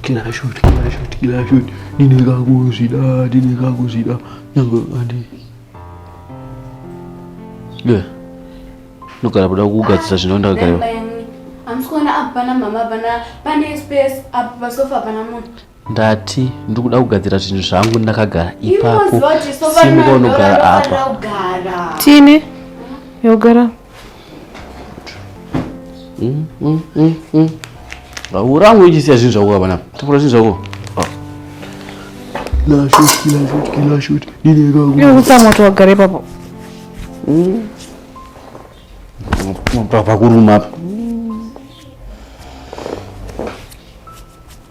kila shot kila shot kila shot ndineka kuzvida ndineka kuzvida nyange andi ye ndogara kuda kugadzisa zvino ndagara amusikuona apa pana mama pana pane space apa pasofa pana munhu ndati ndiri kuda kugadzira zvinhu zvangu ndakagara ipapo simuka unogara apa tine yogara mm, mm, mm, urangu ichisiya zvinhu zvako kapanapa tapura zvinhu zvako kutsa moto wagara ipapo pakuruma apa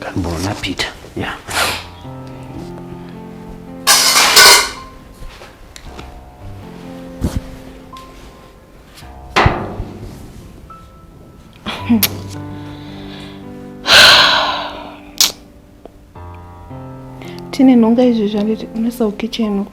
Kanbona Peter. Yeah. tine nhonga izvezvi handiti unesa ukitchen uku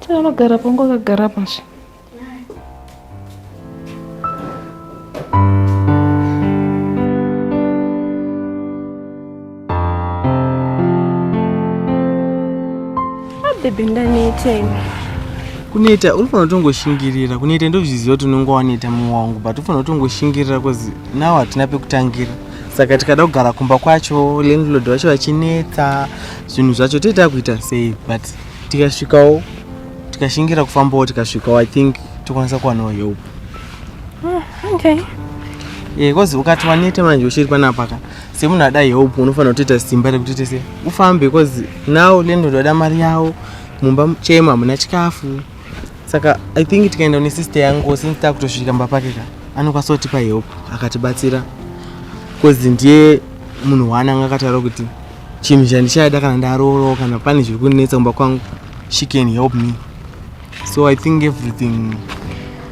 Chanogara pangu akagara pashi. Baby ndanetei. Kuneta uri fanira kutongoshingirira kuneta ndozviziva kuti unenge waneta mumwe wangu but ufanira kutongoshingirira bcause now hatina pekutangira saka tikada kugara kumba kwacho landlord vacho vachinetsa zvinhu zvacho tee takuita sei but tikasvikawo tikashingira kufambawo tikasvikawo i think tokwanisa kuwanawo help ah, okay eh, bcause ukati waneta manje uchiri panapaka semunhu ada help unofanira kutoita simba rekuti tese ufambe bcause now lendo ndoda mari yawo mumba chema hamuna chikafu saka i think tikaenda une sister yangu since takutosvika mba pake ka anokwanisa kutipa help akatibatsira bcause ndiye munhu waananga akataura kuti chinhu chandichaida kana ndaroorwa kana pane zviri kundinetsa kumba kwangu she can help me so i think everything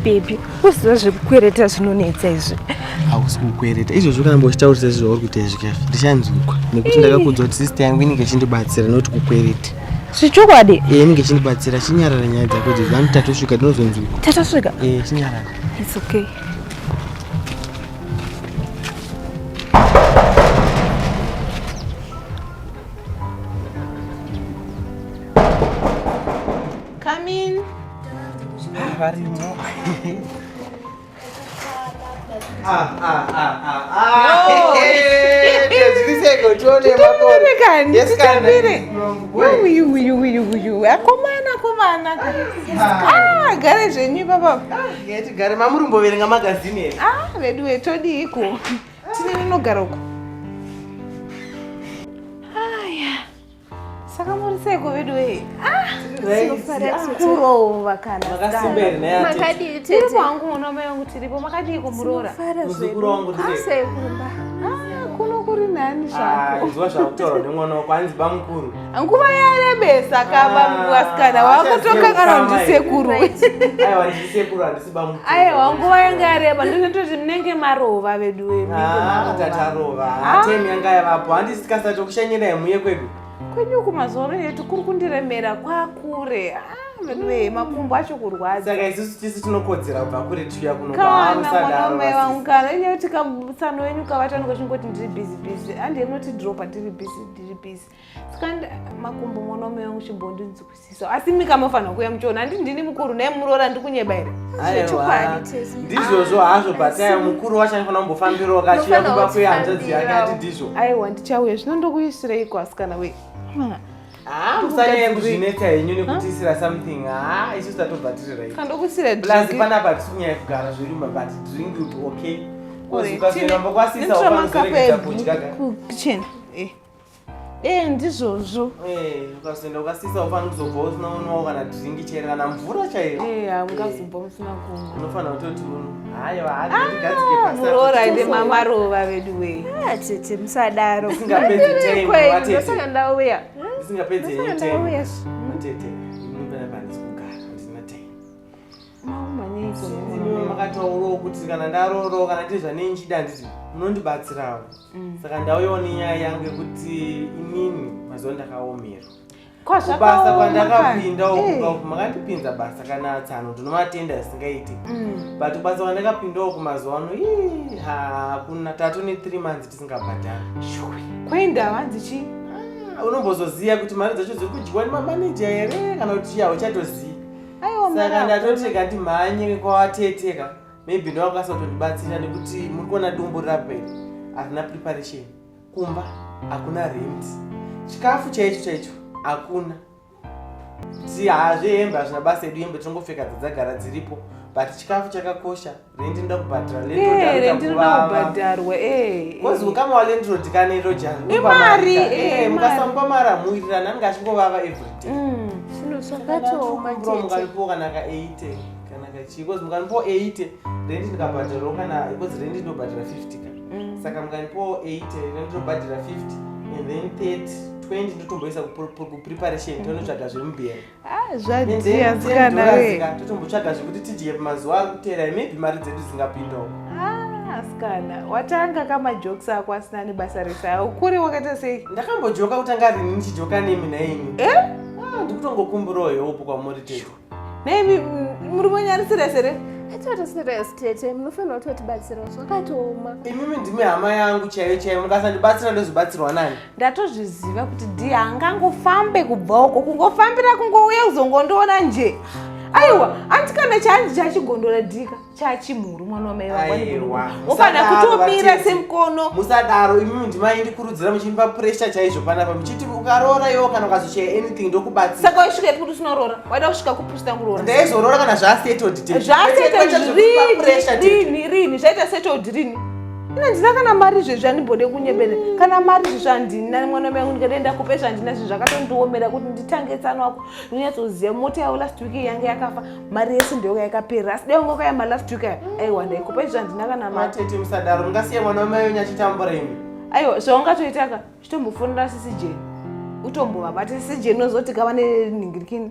bebi uziva zvekukwereta zvinonetsa izvi hausi kukwereta izvozvo kana mbochitaurisa izvi zvauri kuita izvi kafi ndichanzwikwa nekuti ndakakuudza kuti sista yangu inenge ichindibatsira noti kukwereta zvichokwadi e eh, inenge ichindibatsira chinyarara nyaya dzako dzezvani tatosvika tinozonzwikwa tatosvika e eh, chinyarara its okay akomana komana ah, gare zvenyu ipapa tigare mamuri mboverenga magazini here ah veduwe todiiko tine rinogara uko aya saka muri seiko veduwe kurova kanamakadii tete kwangu uno mai vangu tiripo makadii kumuroora sekumba kuno kuri nani zvako ah, zvautaura nemwana wako hanzi bamukuru nguva yarebesa kaba muvasikana ah, wakutokanganwa ndisekuru aiwa nguva yanga yareba ndinototi munenge marova vedu vemuatarova ah, ah. tem yanga yavapo handisi tikasati tokushanyirai muye kwedu kwenyu uku mazoro yetu kuri kundiremera kwakure veduwee makumbo acho kurwadza saka isusu tisu tinokodzera kubva kure tiuya kunokana mwanaume wangu kana inyaya kuti kamusano wenyu kavatanuka chingoti ndiri busy busy andiye munotidropa tiri busy tiri busy Skanda makumbo mwana mume wangu chimbondinzwisisa asi mika mafanira kuya muchiona handi ndini mukuru naye muroora ndikunyeba here ndizvozvo hazvo bataya mukuru wacho anofanira kumbofambirawo kachiya kuba kuya hanzvadzi yake ati ndizvo aiwa ndichauya zvino ndokuisireiko asikana wei Ah, musanyaya kuzvinetsa henyu nekutisira something haa ah, isu tatobva tiri rightplus panapa tisi kunyaya kugara zviri but drink would be okay kozikazviramba kwasisa ukamuzereketa kudya ka Eh, ndizvozvo eh, ukazoenda ukasisa ufana kuzobva usina unwawo kana dhiringi chero kana mvura chaiyo eh, hamungazobva musina kumwa unofanira kutoti munhu hayo haagadzikemuroora ah, ende mamarova vedu wee ah, tete musadaro isingapedzisaka ndauya isingapedzi yenyu tete makataurawo kuti kana ndarooroo kana tiri zvanei nchida handiti munondibatsirawo mm. saka ndauyawo nenyaya yangu yekuti inini mazuva ndakaomerwa kubasa kwandakapinda uku eh. makandipinza basa kana tsano ndinomatenda zvisingaiti mm. but kubasa kwandakapinda uku mazuva ano ii hakuna tatu nethree months tisingabhadhara kwainda hanzi chii ah, unombozoziva kuti mari dzacho dziri kudyiwa nemamaneja here kana kuti chii hauchatozivi saka ndatoti kati mhanyire kwawateteka maybe ndowakasa kutondibatsira nekuti muri kuona dumbu rapera harina preparation kumba hakuna rent chikafu chaicho chaicho hakuna ti hazve hembe hazvina basa edu hembe tinongopfeka dzadzagara dziripo but chikafu chakakosha rendi nda kubhadhara eh, rendi rinoda kubhadharwa bcause eh, ukama walendrod kana iro jaimari eh, mukasamupa mari amuwirirana anenge achingovava everyday mm, zvinhu zvakatooma mukalipiwa kana ka 80 kana kachii bcause mukalipiwa 80 rendi ndikabhadharawo kana bcause rendi ndinobhadhara 50 ka mm. saka mukalipiwa 80 rendi ndinobhadhara 50 and then 30 20 ndotomboisa kupreparation tonotsvaga zvemubhera Ah, zvadhiya msikana we totombotsvaga zvekuti tidye mazuva ari kuteera maybe mari dzedu dzingapindawo ah, asikana watanga kamajokes ako asina nebasa rese awo kuri wakaita sei ndakambojoka kutanga rini ndichijoka nemi naimi eh? ah, ndikutongokumburawo heopo kwamuri teto naimi muri monyarisira sere atoti serious tete munofanira kuti vatibatsirawo zvakatooma imimi ndimi hama yangu chaiyo chaiyo mukasandibatsira ndozobatsirwa nani ndatozviziva kuti dhi haangangofambe kubva uko kungofambira kungouya kuzongondiona nje aiwa anti kana chanzi chachigondora dhika chachimhuru mwana wamai vakwaniofana kutomira semukono musadaro imimi ndimai ndikurudzira muchindipa puresha chaizvo panapa muchiti ukaroora iwo kana ukazochaya anything ndokubatsira saka waisvika ipi kuti usinaroora waida kusvika kupusta kuroora ndaizoroora kana zvasetod zvasetod rini rini zvaita setod rini ine ndina kana mari zvezvi andimbode kunyebere kana mari zvezvi andina mwana mangu ndikadaenda kupe zvandina zvinhu zvakatondiomera kuti nditange tsano wako ndinonyatsoziva mota yavo last week yange yakafa mari yese ndoyoka yakapera asi dai ungokaya ma last week aiwa ndaikupe zvezvi andina kana matete musadaro mungasiya mwana wamai wenyu achitambura imi aiwa zvaungatoitaka chitombofonera sisi jeni utombovabata sisi jeni unozoti kava nenhingirikini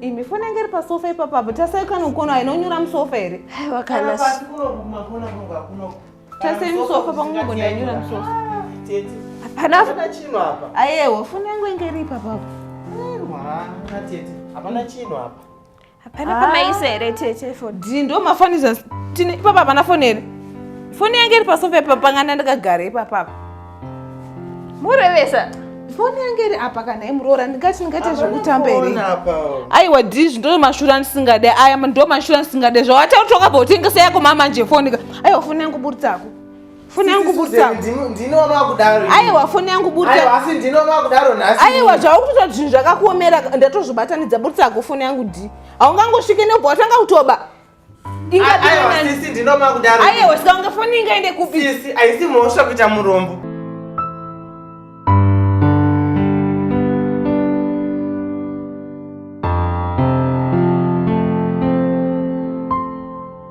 imi foni yange iri pasofa ipapo apo tasai kana ukona inonyura musofa here aiwa kana tasei musofa pangogona yanyura musofa hapana chinhu apa ayewa foni yangu inge iri ipapo apo hapana chinhu apa hapana pamaisa here tete foni dii ndo mafanisa tine ipapa hapana foni here foni yange iri pasofa ipapo panganda ndakagara ipapapa murevesa foni yange iri apa kana imuroora ndingati ndingaita zvekutamba here aiwa dizvi ndo mashura ndisingade aya ndo mashura ndisingade zvawatakuti wakabva utengesa yako mamanje foni ka aiwa foni yangu buritsako foni yangu buritsaaaiwa foni yangu buritsaaaiwa zvaukutoita zvinhu zvakakuomera ndatozvibatanidza buritsako foni yangu di haungangosvike nebva watanga kutoba Sisi ndinoma kudaro. Ayewa sika ungafoni ingaende kupi? Sisi haisi mhosva kuita murombo.